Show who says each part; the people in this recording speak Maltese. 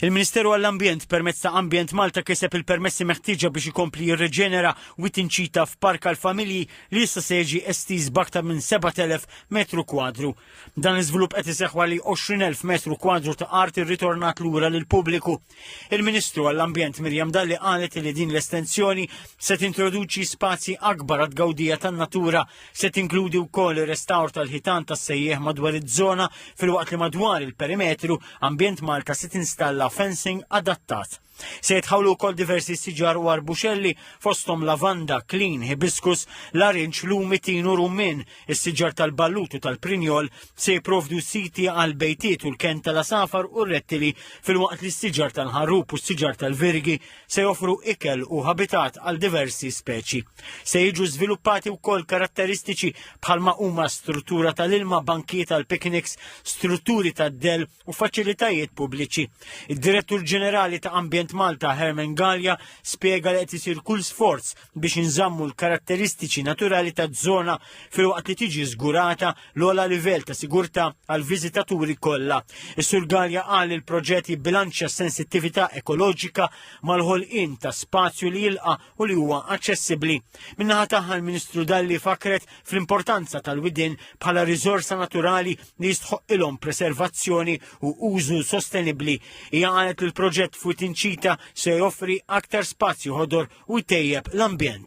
Speaker 1: Il-Ministeru għall-Ambjent permezz ta' Ambjent Malta kiseb il-permessi meħtieġa biex ikompli jirreġenera wit inċita f'park għall-familji li issa se jiġi estiż b'aktar minn 7,000 metru kwadru. Dan l-iżvilupp qed iseħħ għali 20,000 metru kwadru ta' art irritornat lura lill-pubbliku. Il-Ministru għall-Ambjent Mirjam Dalli qalet li din l-estensjoni se tintroduċi spazji akbar għad-gawdija tan-natura Se tinkludi wkoll ir-restawr tal-ħitan tas-sejjieħ madwar iż-żona filwaqt li madwar il-perimetru Ambjent Malta se tinstalla fencing adattat. Se jitħawlu wkoll diversi siġar u arbuxelli fosthom lavanda, klin, hibiscus, larinġ, lumi, tin u rummin. Is-siġar tal-ballut u tal-prinjol se jipprovdu siti għal bejtiet u l-ken tal-asafar u r-rettili filwaqt li s-siġar tal-ħarrub u s-siġar tal-virgi se joffru ikel u habitat għal diversi speċi. Se jiġu żviluppati wkoll karatteristiċi bħalma huma struttura tal-ilma, bankiet għal pikniks, strutturi tad-del u faċilitajiet pubbliċi. Id-Direttur Ġenerali ta' Ambjent Malta Herman Gallia spjega li qed isir kull sforz biex inżammu l-karatteristiċi naturali taż-żona filwaqt li tiġi żgurata l-ogħla livell ta' sigurtà għall-viżitaturi kollha. Is-Sur Gallia qal li l-proġett jibbilanċja s-sensittività ekoloġika mal-ħolqien ta' spazju li jilqa' u li huwa aċċessibbli. Min-naħa tagħha l-Ministru Dalli fakret fl-importanza tal-widien bħala riżorsa naturali li jistħoqqilhom preservazzjoni u użu sostenibbli. Hija qalet li l-proġett fuq Tinċita se joffri aktar spazju ħodor u jtejjeb l-ambjent.